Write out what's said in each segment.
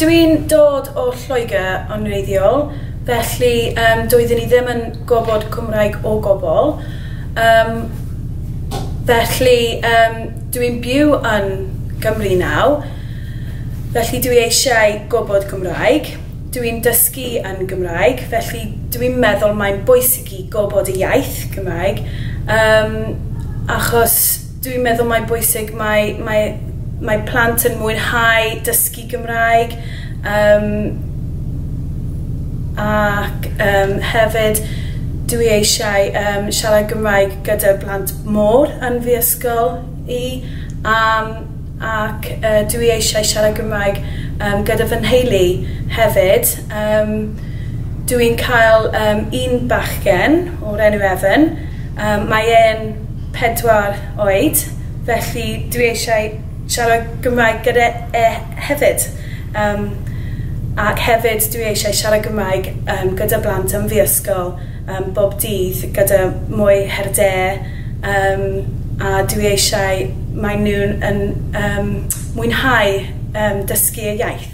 Dw i'n dod o Lloegr yn wreiddiol, felly yym doeddwn i ddim yn gwybod Cymraeg o gwbl, yym felly yym dw i'n byw yn Gymru nawr, felly dw i eisiau gwybod Cymraeg, dw i'n dysgu yn Gymraeg, felly dw i'n meddwl mae'n bwysig i gwybod y iaith Cymraeg yym achos Dwi'n meddwl mae'n bwysig, mae mae mae plant yn mwynhau dysgu Gymraeg yym ac yym hefyd dwi eisiau yym siarad Gymraeg gyda'r blant môr yn fy ysgol i yym ac yy dwi eisiau siarad Gymraeg yym gyda fy nheulu hefyd yym dwi'n cael yym un bachgen o'r enw Evan yym mae e'n pedwar oed, felly dwi eisiau siarad Gymraeg gyda e hefyd. Yym ac hefyd dwi eisiau siarad Gymraeg yym gyda blant yn fy ysgol yym bob dydd gyda mwy her de yym a dwi eisiau mae nhw'n yn yym mwynhau yym dysgu y iaith.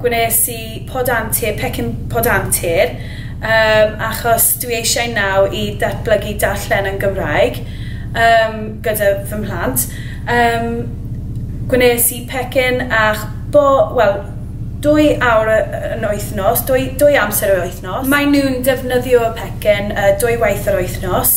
gwnes i pod antur, pecyn pod antur, yym, achos dwi eisiau naw i ddatblygu darllen yn Gymraeg, yym, gyda fy mhlant. Yym, gwnes i pecyn ach bo, wel, dwy awr y- yn wythnos, dwy, dwy amser yr wythnos. Maen nhw'n defnyddio y pecyn yy dwy waith yr wythnos.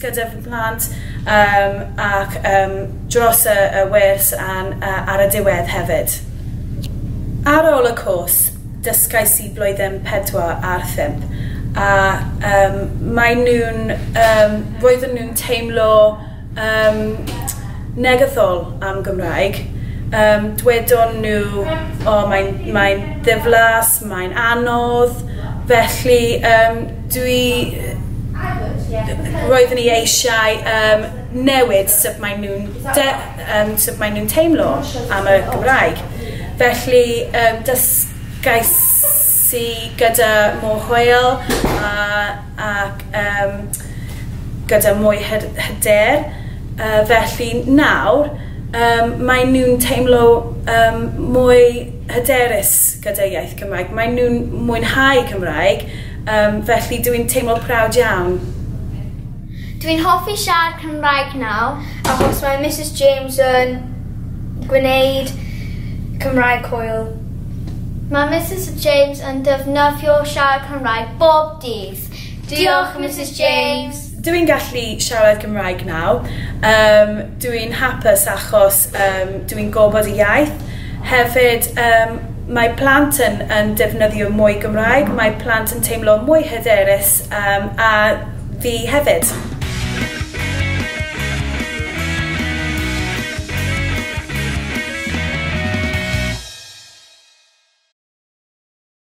gyda fy mhlant yym ac yym dros y y wers a'n yy ar y diwedd hefyd. Ar ôl y cwrs dysgais i blwyddyn pedwar a'r phump a yym mae nhw'n yym roedden nhw'n teimlo yym negyddol am Gymraeg yym dwedon nhw o mae'n mae'n ddiflas Mae'n anodd, felly yym dwi yy roeddwn i eisiau yym newid sut maen nhw'n de- yym sut maen nhw'n teimlo am y Gymraeg, felly yym dysgais i gyda Mo Hoel a ac yym gyda mwy hy- hyder yy felly nawr yym maen nhw'n teimlo yym mwy hyderus. gyda iaith Cymraeg. Maen nhw'n mwynhau Cymraeg, yym, felly dw i'n teimlo proud iawn. Dw i'n hoffi siarad Cymraeg nawr achos mae Misus James yn gwneud Cymraeg hwyl. Mae Misus James yn defnyddio siarad Cymraeg bob dydd. Diolch, Misus James! Dw i'n gallu siarad Cymraeg nawr. Yym, dw i'n hapus achos yym dw i'n gwybod y iaith. Hefyd yym mae plant yn yn defnyddio mwy Gymraeg, mae plant yn teimlo mwy hyderus yym a fi hefyd.